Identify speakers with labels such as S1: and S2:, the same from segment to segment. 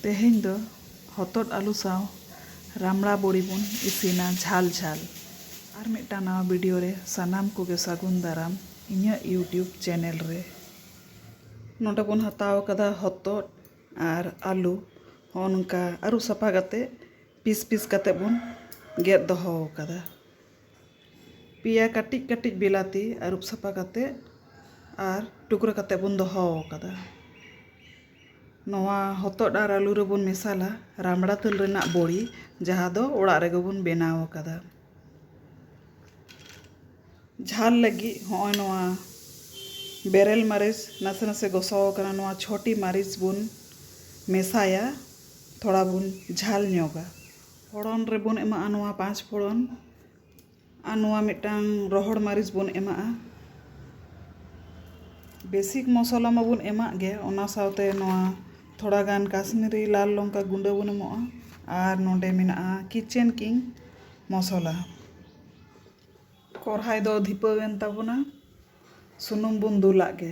S1: ᱛᱮᱦᱮᱧ ᱫᱚ ᱦᱚᱛᱚᱫ ᱟᱞᱩ ᱥᱟᱶ ᱨᱟᱢᱲᱟ ᱵᱚᱲᱤ ᱵᱚᱱ ᱤᱥᱤᱱᱟ ᱡᱷᱟᱞ ᱡᱷᱟᱞ ᱟᱨ ᱢᱤᱫᱴᱟᱝ ᱱᱟᱣᱟ ᱵᱷᱤᱰᱤᱭᱳ ᱨᱮ ᱥᱟᱱᱟᱢ ᱠᱚᱜᱮ ᱥᱟᱹᱜᱩᱱ ᱫᱟᱨᱟᱢ ᱤᱧᱟᱹᱜ ᱤᱭᱩᱴᱤᱭᱩᱵᱽ ᱪᱮᱱᱮᱞ ᱨᱮ ᱱᱚᱰᱮ ᱵᱚᱱ ᱦᱟᱛᱟᱣ ᱠᱟᱫᱟ ᱦᱚᱛᱚᱫ ᱟᱨ ᱟᱞᱩ ᱦᱚᱸ ᱱᱚᱝᱠᱟ ᱟᱹᱨᱩᱵ ᱥᱟᱯᱷᱟ ᱠᱟᱛᱮ ᱯᱤᱥ ᱯᱤᱥ ᱠᱟᱛᱮ ᱵᱚᱱ ᱜᱮᱫ ᱫᱚᱦᱚ ᱠᱟᱫᱟ ᱯᱮᱭᱟ ᱠᱟᱹᱴᱤᱡ ᱠᱟᱹᱴᱤᱡ ᱵᱤᱞᱟᱹᱛᱤ ᱟᱹᱨᱩᱵ ᱥᱟᱯᱷᱟ ᱠᱟᱛᱮᱫ ᱟᱨ ᱴᱩᱠᱨᱟᱹ ᱠᱟᱛᱮᱫ ᱵᱚᱱ ᱫᱚᱦᱚ ᱟᱠᱟᱫᱟ ᱱᱚᱣᱟ ᱦᱚᱛᱚᱫ ᱟᱨ ᱟᱹᱞᱩ ᱨᱮᱵᱚᱱ ᱢᱮᱥᱟᱞᱟ ᱨᱟᱢᱲᱟ ᱫᱟᱹᱞ ᱨᱮᱱᱟᱜ ᱵᱚᱲᱤ ᱡᱟᱦᱟᱸ ᱫᱚ ᱚᱲᱟᱜ ᱨᱮᱜᱮ ᱵᱚᱱ ᱵᱮᱱᱟᱣ ᱟᱠᱟᱫᱟ ᱡᱷᱟᱞ ᱞᱟᱹᱜᱤᱫ ᱦᱚᱸᱜᱼᱚᱭ ᱱᱚᱣᱟ ᱵᱮᱨᱮᱞ ᱢᱟᱹᱨᱤᱪ ᱱᱟᱥᱮ ᱱᱟᱥᱮ ᱜᱚᱥᱚ ᱟᱠᱟᱱᱟ ᱱᱚᱣᱟ ᱪᱷᱚᱴᱤ ᱢᱟᱹᱨᱤᱪ ᱵᱚᱱ ᱢᱮᱥᱟᱭᱟ ᱛᱷᱚᱲᱟ ᱵᱚᱱ ᱡᱷᱟᱞ ᱧᱚᱜᱟ ᱯᱷᱚᱲᱚᱱ ᱨᱮᱵᱚᱱ ᱮᱢᱟᱜᱼᱟ ᱱᱚᱣᱟ ᱯᱟᱸᱪ ᱯᱷᱚᱲᱚᱱ ᱟᱨ ᱱᱚᱣᱟ ᱢᱤᱫᱴᱟᱝ ᱨᱚᱦᱚᱲ ᱢᱟᱹᱨᱤᱪ ᱵᱚᱱ ᱮᱢᱟᱜᱼᱟ ᱵᱮᱥᱤᱠ ᱢᱚᱥᱞᱟ ᱢᱟᱵᱚᱱ ᱮᱢᱟᱜ ᱜᱮ ᱚᱱᱟ ᱥᱟᱶᱛᱮ ᱱᱚᱣᱟ ᱛᱷᱚᱲᱟ ᱜᱟᱱ ᱠᱟᱥᱢᱤᱨᱤ ᱞᱟᱞ ᱞᱚᱝᱠᱟ ᱜᱩᱸᱰᱟᱹ ᱵᱚᱱ ᱮᱢᱟᱜᱼᱟ ᱟᱨ ᱱᱚᱰᱮ ᱢᱮᱱᱟᱜᱼᱟ ᱠᱤᱪᱮᱱ ᱠᱤᱝ ᱢᱚᱥᱞᱟ ᱠᱚᱲᱦᱟᱭ ᱫᱚ ᱫᱷᱤᱯᱟᱹᱣᱮᱱ ᱛᱟᱵᱚᱱᱟ ᱥᱩᱱᱩᱢ ᱵᱚᱱ ᱫᱩᱞᱟᱜ ᱜᱮ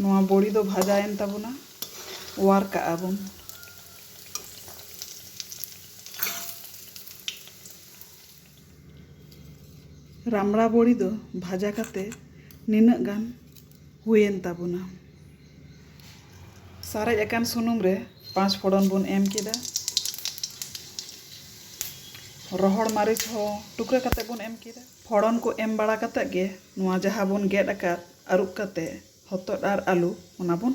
S1: ᱱᱚᱣᱟ ᱵᱚᱲᱤ ᱫᱚ ᱵᱷᱟᱡᱟᱭᱮᱱ ᱛᱟᱵᱚᱱᱟ ᱚᱣᱟᱨ ᱠᱟᱜᱼᱟ ᱵᱚᱱ ᱨᱟᱢᱲᱟ ᱵᱚᱲᱤ ᱫᱚ ᱵᱷᱟᱡᱟ ᱠᱟᱛᱮ ᱱᱤᱱᱟᱹᱜ ᱜᱟᱱ ᱦᱩᱭᱮᱱ ᱛᱟᱵᱚᱱᱟ᱾ ᱥᱟᱨᱮᱡ ᱟᱠᱟᱱ ᱥᱩᱱᱩᱢ ᱨᱮ ᱯᱟᱸᱪ ᱯᱷᱚᱲᱚᱱ ᱵᱚᱱ ᱮᱢ ᱠᱮᱫᱟ᱾ ᱨᱚᱦᱚᱲ ᱢᱟᱹᱨᱤᱪ ᱦᱚᱸ ᱴᱩᱠᱨᱟᱹ ᱠᱟᱛᱮ ᱵᱚᱱ ᱮᱢ ᱠᱮᱫᱟ᱾ ᱯᱷᱚᱲᱚᱱ ᱠᱚ ᱮᱢ ᱵᱟᱲᱟ ᱠᱟᱛᱮ ᱜᱮ ᱱᱚᱣᱟ ᱡᱟᱦᱟᱸ ᱵᱚᱱ ᱜᱮᱫ ᱟᱠᱟᱫ ᱟᱹᱨᱩᱵ ᱠᱟᱛᱮ ᱦᱚᱛᱚᱫ ᱟᱨ ᱟᱹᱞᱩ ᱚᱱᱟ ᱵᱚᱱ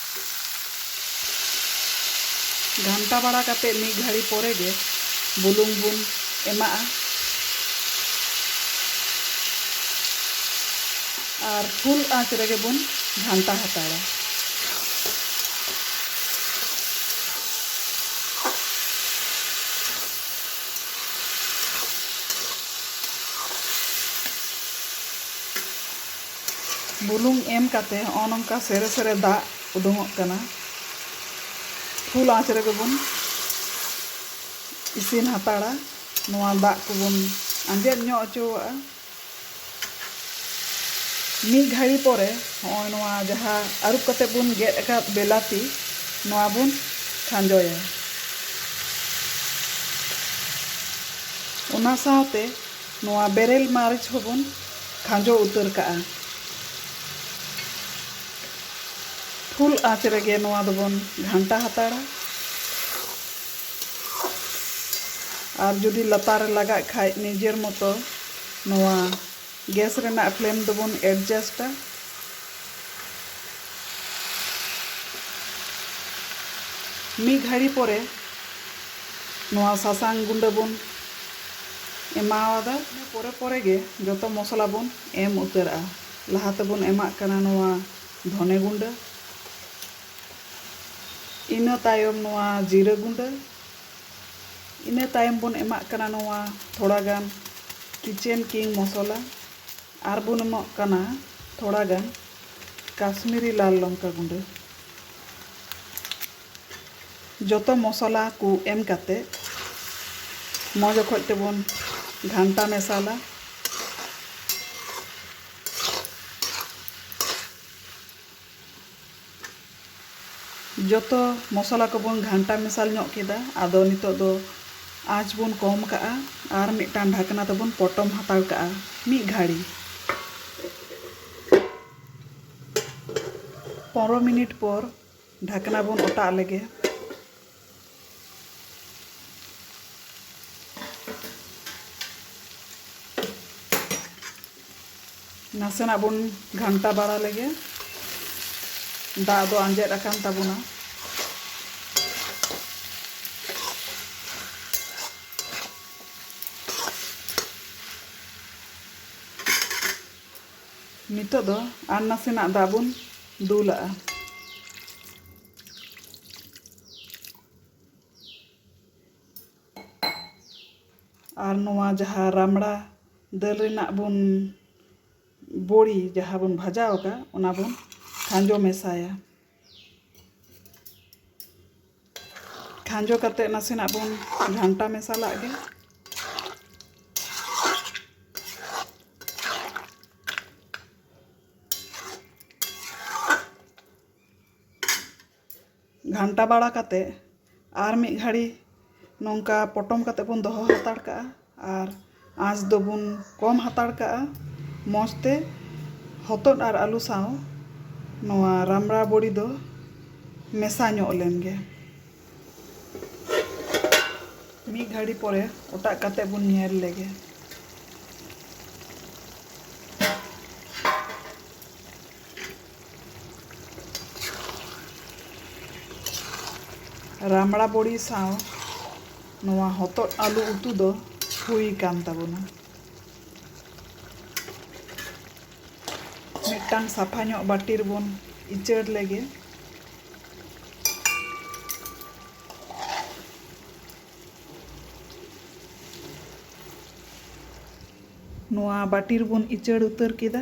S1: ᱜᱷᱟᱱᱴᱟ ᱵᱟᱲᱟ ᱠᱟᱛᱮ ᱢᱤᱫ ᱜᱷᱟᱹᱲᱤ ᱯᱚᱨᱮ ᱜᱮ ᱵᱩᱞᱩᱝ ᱵᱚᱱ ᱮᱢᱟᱜᱼᱟ ᱟᱨ ᱯᱷᱩᱞ ᱟᱸᱪ ᱨᱮᱜᱮ ᱵᱚᱱ ᱜᱷᱟᱱᱴᱟ ᱦᱟᱛᱟᱲᱟ ᱵᱩᱞᱩᱝ ᱮᱢ ᱠᱟᱛᱮ ᱦᱚᱜᱼᱚᱭ ᱱᱚᱝᱠᱟ ᱥᱮᱨᱮ ᱥᱮᱨᱮ ᱫᱟᱜ ᱩᱰᱩᱝᱚᱜ ᱠᱟᱱᱟ ᱯᱷᱩᱞ ᱟᱸᱪ ᱨᱮᱜᱮ ᱵᱚᱱ ᱤᱥᱤᱱ ᱦᱟᱛᱟᱲᱟ ᱱᱚᱣᱟ ᱫᱟᱜ ᱠᱚᱵᱚᱱ ᱟᱸᱡᱮᱫ ᱧᱚᱜ ᱚᱪᱚᱣᱟᱜᱼᱟ ᱢᱤᱫ ᱜᱷᱟᱹᱲᱤ ᱯᱚᱨᱮ ᱦᱚᱜᱼᱚᱭ ᱱᱚᱣᱟ ᱡᱟᱦᱟᱸ ᱟᱹᱨᱩᱵ ᱠᱟᱛᱮ ᱵᱚᱱ ᱜᱮᱫ ᱟᱠᱟᱫ ᱵᱮᱞᱟᱛᱤ ᱱᱚᱣᱟ ᱵᱚᱱ ᱠᱷᱟᱸᱡᱚᱭᱟ ᱚᱱᱟ ᱥᱟᱶᱛᱮ ᱱᱚᱣᱟ ᱵᱮᱨᱮᱞ ᱢᱟᱹᱨᱤᱪ ᱦᱚᱸ ᱵᱚᱱ ᱠᱷᱟᱸᱡᱚ ᱩᱛᱟᱹᱨ ᱠᱟᱜᱼᱟ᱾ ᱯᱷᱩᱞ ᱟᱸᱪ ᱨᱮᱜᱮ ᱱᱚᱣᱟ ᱫᱚ ᱵᱚᱱ ᱜᱷᱟᱱᱴᱟ ᱦᱟᱛᱟᱲᱟ᱾ ᱟᱨ ᱡᱩᱫᱤ ᱞᱟᱛᱟᱨ ᱨᱮ ᱞᱟᱜᱟᱜ ᱠᱷᱟᱡ ᱱᱤᱡᱮᱨ ᱢᱚᱛᱚ ᱱᱚᱣᱟ ᱜᱮᱥ ᱨᱮᱱᱟᱜ ᱯᱷᱞᱮᱢ ᱫᱚ ᱵᱚᱱ ᱮᱰᱡᱟᱥᱴᱟ᱾ ᱢᱤᱫ ᱜᱷᱟᱹᱲᱤ ᱯᱚᱨᱮ ᱱᱚᱣᱟ ᱥᱟᱥᱟᱝ ᱜᱩᱸᱰᱟᱹ ᱵᱚᱱ᱾ ᱮᱢᱟᱣᱟᱫᱟ᱾ ᱤᱱᱟᱹ ᱯᱚᱨᱮ ᱯᱚᱨᱮ ᱜᱮ ᱡᱚᱛᱚ ᱢᱚᱥᱞᱟ ᱵᱚᱱ ᱮᱢ ᱩᱛᱟᱹᱨᱟᱜᱼᱟ᱾ ᱞᱟᱦᱟ ᱛᱮᱵᱚᱱ ᱮᱢᱟᱜ ᱠᱟᱱᱟ ᱱᱚᱣᱟ ᱫᱷᱚᱱᱮ ᱜᱩᱸᱰᱟᱹ᱾ ᱤᱱᱟᱹ ᱛᱟᱭᱚᱢ ᱱᱚᱣᱟ ᱡᱤᱨᱟᱹ ᱜᱩᱸᱰᱟᱹ᱾ ᱤᱱᱟᱹ ᱛᱟᱭᱚᱢ ᱵᱚᱱ ᱮᱢᱟᱜ ᱠᱟᱱᱟ ᱱᱚᱣᱟ ᱛᱷᱚᱲᱟ ᱜᱟᱱ ᱠᱤᱪᱮᱱ ᱠᱤᱝ ᱢᱚᱥᱞᱟ᱾ ᱟᱨ ᱵᱚᱱ ᱮᱢᱟᱜ ᱠᱟᱱᱟ ᱛᱷᱚᱲᱟ ᱜᱟᱱ ᱠᱟᱥᱢᱤᱨᱤ ᱞᱟᱞ ᱞᱚᱝᱠᱟ ᱜᱩᱸᱰᱟᱹ᱾ ᱡᱚᱛᱚ ᱢᱚᱥᱚᱞᱟ ᱠᱚ ᱮᱢ ᱠᱟᱛᱮ ᱢᱚᱡᱽ ᱚᱠᱚᱡ ᱛᱮᱵᱚᱱ ᱜᱷᱟᱱᱴᱟ ᱢᱮᱥᱟᱞᱟ᱾ ᱡᱚᱛᱚ ᱢᱚᱥᱚᱞᱟ ᱠᱚᱵᱚᱱ ᱜᱷᱟᱱᱴᱟ ᱢᱮᱥᱟᱞ ᱧᱚᱜ ᱠᱮᱫᱟ᱾ ᱟᱫᱚ ᱱᱤᱛᱚᱜ ᱫᱚ ᱟᱸᱪ ᱵᱚᱱ ᱠᱚᱢ ᱠᱟᱜᱼᱟ ᱟᱨ ᱢᱤᱫᱴᱟᱝ ᱰᱷᱟᱠᱱᱟ ᱛᱮᱵᱚᱱ ᱯᱚᱴᱚᱢ ᱦᱟᱛᱟᱲ ᱠᱟᱜᱼᱟ ᱢᱤᱫ ᱜᱷᱟᱹᱲᱤ᱾ ᱯᱚᱱᱨᱚ ᱢᱤᱱᱤᱴ ᱯᱚᱨ ᱰᱷᱟᱠᱱᱟ ᱵᱚᱱ ᱚᱴᱟᱜ ᱞᱮᱜᱮ ᱱᱟᱥᱮᱱᱟᱜ ᱵᱚᱱ ᱜᱷᱟᱱᱴᱟ ᱵᱟᱲᱟ ᱞᱮᱜᱮ ᱫᱟᱜ ᱫᱚ ᱟᱸᱡᱮᱫ ᱟᱠᱟᱱ ᱛᱟᱵᱚᱱᱟ ᱱᱤᱛᱚᱜ ᱫᱚ ᱟᱨ ᱱᱟᱥᱮᱱᱟᱜ ᱫᱟᱜ ᱵᱚᱱ ᱫᱩᱞᱟᱜᱼᱟ᱾ ᱟᱨ ᱱᱚᱣᱟ ᱡᱟᱦᱟᱸ ᱨᱟᱢᱲᱟ ᱫᱟᱹᱞ ᱨᱮᱱᱟᱜ ᱵᱚᱱ ᱵᱚᱲᱤ ᱡᱟᱦᱟᱸ ᱵᱚᱱ ᱵᱷᱟᱡᱟᱣ ᱟᱠᱟᱫ ᱚᱱᱟ ᱵᱚᱱ ᱠᱷᱟᱸᱡᱚ ᱢᱮᱥᱟᱭᱟ᱾ ᱠᱷᱟᱸᱡᱚ ᱠᱟᱛᱮ ᱱᱟᱥᱮᱱᱟᱜ ᱵᱚᱱ ᱜᱷᱟᱱᱴᱟ ᱢᱮᱥᱟᱞᱟᱜ ᱜᱮ ᱜᱷᱟᱱᱴᱟ ᱵᱟᱲᱟ ᱠᱟᱛᱮ ᱟᱨ ᱢᱤᱫ ᱜᱷᱟᱹᱲᱤ ᱱᱚᱝᱠᱟ ᱯᱚᱴᱚᱢ ᱠᱟᱛᱮᱫ ᱵᱚᱱ ᱫᱚᱦᱚ ᱦᱟᱛᱟᱲ ᱠᱟᱜᱼᱟ ᱟᱨ ᱟᱸᱪ ᱫᱚᱵᱚᱱ ᱠᱚᱢ ᱦᱟᱛᱟᱲ ᱠᱟᱜᱼᱟ ᱢᱚᱡᱽ ᱛᱮ ᱦᱚᱛᱚᱫ ᱟᱨ ᱟᱹᱞᱩ ᱥᱟᱶ ᱱᱚᱣᱟ ᱨᱟᱢᱲᱟ ᱵᱚᱲᱤ ᱫᱚ ᱢᱮᱥᱟ ᱧᱚᱜ ᱞᱮᱱ ᱜᱮ ᱢᱤᱫ ᱜᱷᱟᱹᱲᱤ ᱯᱚᱨᱮ ᱚᱴᱟᱜ ᱠᱟᱛᱮᱫ ᱵᱚᱱ ᱧᱮᱞ ᱞᱮᱜᱮ ᱨᱟᱢᱲᱟ ᱵᱚᱲᱤ ᱥᱟᱶ ᱱᱚᱣᱟ ᱦᱚᱛᱚᱫ ᱟᱹᱞᱩ ᱩᱛᱩ ᱫᱚ ᱦᱩᱭ ᱠᱟᱱ ᱛᱟᱵᱚᱱᱟ ᱢᱤᱫᱴᱟᱝ ᱥᱟᱯᱷᱟ ᱧᱚᱜ ᱵᱟᱹᱴᱤ ᱨᱮᱵᱚᱱ ᱤᱪᱟᱹᱲ ᱞᱮᱜᱮ ᱱᱚᱣᱟ ᱵᱟᱹᱴᱤ ᱨᱮᱵᱚᱱ ᱤᱪᱟᱹᱲ ᱩᱛᱟᱹᱨ ᱠᱮᱫᱟ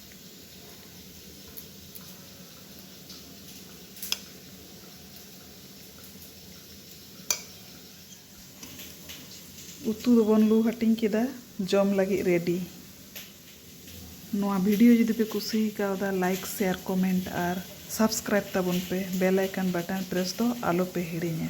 S1: ᱩᱛᱩ ᱫᱚᱵᱚᱱ ᱞᱩ ᱦᱟᱹᱴᱤᱧ ᱠᱮᱫᱟ ᱡᱚᱢ ᱞᱟᱹᱜᱤᱫ ᱨᱮᱰᱤ ᱱᱚᱣᱟ ᱵᱷᱤᱰᱤᱭᱳ ᱡᱩᱫᱤ ᱯᱮ ᱠᱩᱥᱤ ᱠᱟᱣᱫᱟ ᱞᱟᱭᱤᱠ ᱥᱮᱭᱟᱨ ᱠᱚᱢᱮᱱᱴ ᱟᱨ ᱥᱟᱵᱥᱠᱨᱟᱭᱤᱵ ᱛᱟᱵᱚᱱ ᱯᱮ ᱵᱮᱞ ᱟᱭᱠᱚᱱ ᱵᱟᱴᱚᱱ ᱯᱨᱮᱥ ᱫᱚ ᱟᱞᱚ ᱯᱮ ᱦᱤᱲᱤᱧᱟ